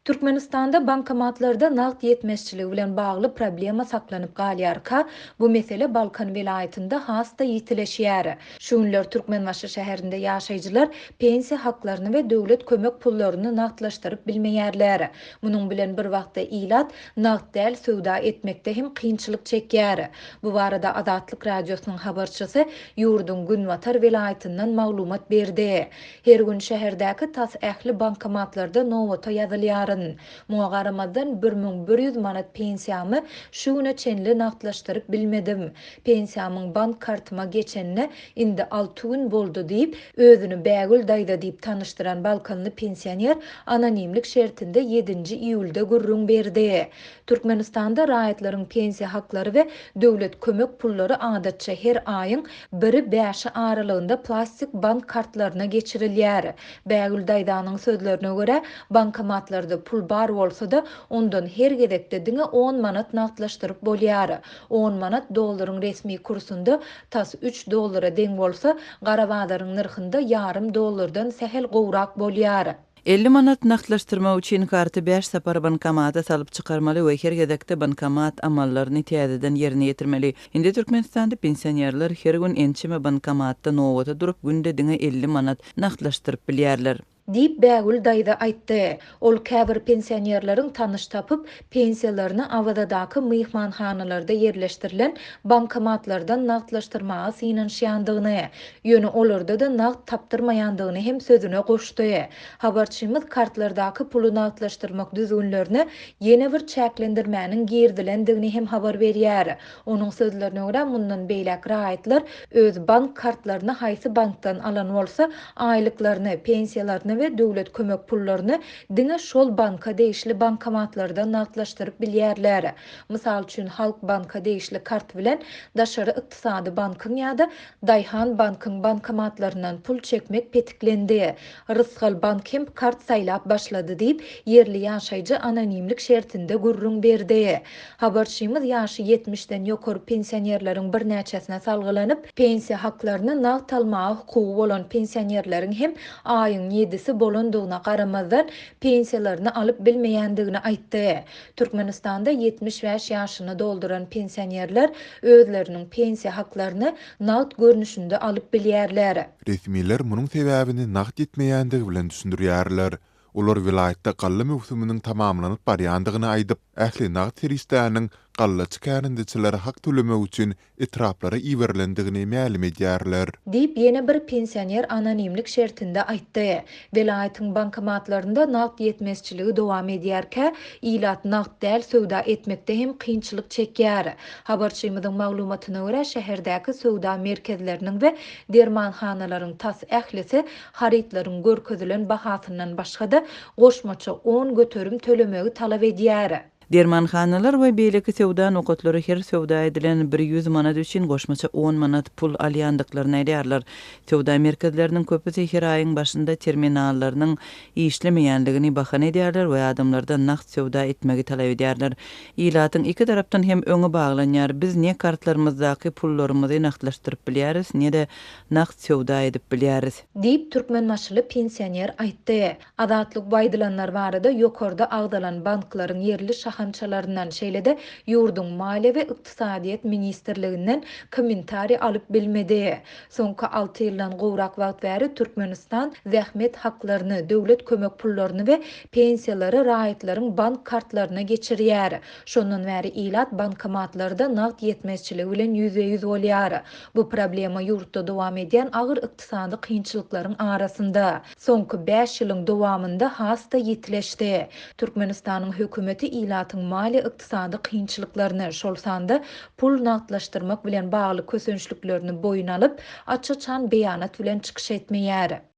Türkmenistanda bankomatlarda nagt ýetmezçiligi bilen bagly problema saklanyp galýarka, bu mesele Balkan welaýatynda has-da ýitileşýär. Şu günler Türkmenbaşy şäherinde ýaşaýjylar pensiýa haklaryny we döwlet kömek pullaryny nagtlaşdyryp bilmeýärler. Munuň bilen bir wagtda ilat nagt däl söwda etmekde hem kynçylyk çekýär. Bu barada Azatlyk Radiosynyň habarçysy ýurduň günbatar welaýatyndan maglumat berdi. Her gün şäherdäki tas ähli bankomatlarda nobata ýazylýaryn. Muňa garamazdan bir müň bir ýüz manat pensiýamy şu güne çenli nagtlaşdyryp bilmedim. Pensiýamyň bank kartyma geçenine indi alty gün boldy diýip, özüni Bägül daýza diýip tanyşdyran balkanly pensioner anonimlik şertinde ýedinji iýulda gürrüň berdi. Türkmenistanda raýatlaryň pensiýa haklary we döwlet kömek pullary adatça her aýyň biri bäşi aralygynda plastik bank kartlaryna geçirilýär. Bägül daýzanyň sözlerine görä, bankomatlarda pul bar bolsa-da, ondan her gezekde diňe on manat nagtlaşdyryp bolýar. On manat dollaryň resmi kursunda tas üç dollara deň bolsa, gara bazaryň nyrhynda ýarym dollardan sähel gowrak bolýar. Elli manat nagtlaşdyrmak üçin karty bäş sapar bankomata salyp çykarmaly we her gezekde bankomat amallaryny täzeden ýerine ýetirmeli. Indi Türkmenistanda pensionerler her gün ençeme bankomatda nobata durup günde diňe elli manat nagtlaşdyryp bilýärler. Diýip Bägül daýza aýtdy. Ol käbir pensionerleriň tanyş tapyp, pensiýalaryny Awazadaky myhmanhanalarda ýerleşdirilen bankomatlardan nagtlaşdyrmaga synanyşýandygyny, ýöne olarda-da nagt tapdyrmaýandygyny hem sözüne goşdy. Habarçymyz kartlardaky puly nagtlaşdyrmak düzgünlerine ýene bir çäklendirmäniň girizilendigini hem habar berýär. Onuň sözlerine görä, mundan beýläk raýatlar öz bank kartlaryny haýsy bankdan alan bolsa, aýlyklaryny, pensiýalaryny we döwlet kömek pullaryny Diňe şol banka degişli bankomatlardan nagtlaşdyryp bilýärler. Mysal üçin, Halk banka degişli kart bilen Daşary ykdysady bankyň ýa-da Daýhan bankyň bankomatlaryndan pul çekmek petiklendi. Rysgal bank hem kart saýlap başlady diýip, ýerli ýaşaýjy anonimlik şertinde gürrüň berdi. Habarçymyz ýaşy ýetmişden ýokary pensionerleriň birnäçesine salgylanyp, pensiýa haklaryny nagt almaga hukugy bolan pensionerleriň hem aýyň ýedisi bolandygyna garamazdan, pensiýalaryny alyp bilmeýändigini aýtdy. Türkmenistanda ýetmiş bäş ýaşyny dolduran pensionerler özleriniň pensiýa haklaryny nagt görnüşinde alyp bilýärler. Resmiler munuň sebäbini nagt ýetmeýändigi bilen düşündirýärler. Olar welaýatda galla möwsüminiň tamamlanyp barýandygyny aýdyp, ähli nagt serişdäniň gallaçy kärendeçilere hak tölemek üçin etraplara iberilendigini mälim edýärler. Diýip, ýene bir pensioner anonimlik şertinde aýtdy. Welaýatyň bankomatlarynda nagt ýetmezçiligi dowam edýärkä, ilat nagt däl söwda etmekde hem kynçylyk çekýär. Habarçymyzyň maglumatyna görä, şäherdäki söwda merkezleriniň we dermanhanalaryň tas ählisi harytlaryň görkezilen bahasyndan başga-da, goşmaça on göterim tölemegi talap edýär. Dermanhanalar we beýleki söwda nokatlary her söwda edilen bir ýüz manat üçin goşmaça on manat pul alýandyklaryny aýdýarlar. Söwda merkezleriniň köpüsi her aýyň başynda terminallarynyň işlemeýändigini bahana edýärler we adamlardan nagt söwda etmegi talap edýärler. Ilatyň iki tarapdan hem öňi baglanýar. Biz ne kartlarymyzdaky pullarymyzy nagtlaşdyryp bilýäris, ne-de nagt söwda edip bilýäris. Diýip, türkmenbaşyly pensioner aýtdy. Azatlyk bu aýdylanlar barada ýokarda agzalan banklaryň ýerli şahamçalaryndan, şeýle-de ýurduň Maliýe we ykdysadyýet ministrliginden kommentariý alyp bilmedi. Soňky alty ýyldan gowrak wagt bäri Türkmenistan zähmet haklaryny, döwlet kömek pullaryny we pensiýalary raýatlaryň bank kartlaryna geçirýär. Şondan bäri ilat bankomatlarda nagt ýetmezçiligi bilen ýüzbe-ýüz bolýar. Bu problema ýurtda dowam edýän agyr ykdysady kynçylyklaryň arasynda, soňky bäş ýylyň dowamynda has-da ýitileşdi. Türkmenistanyň hökümeti ilatyň maliýe-ykdysady kynçylyklaryny, şol sanda pul nagtlaşdyrmak bilen bagly kösençliklerini boýun alyp, aç-açan beýanat bilen çykyş etmeýär.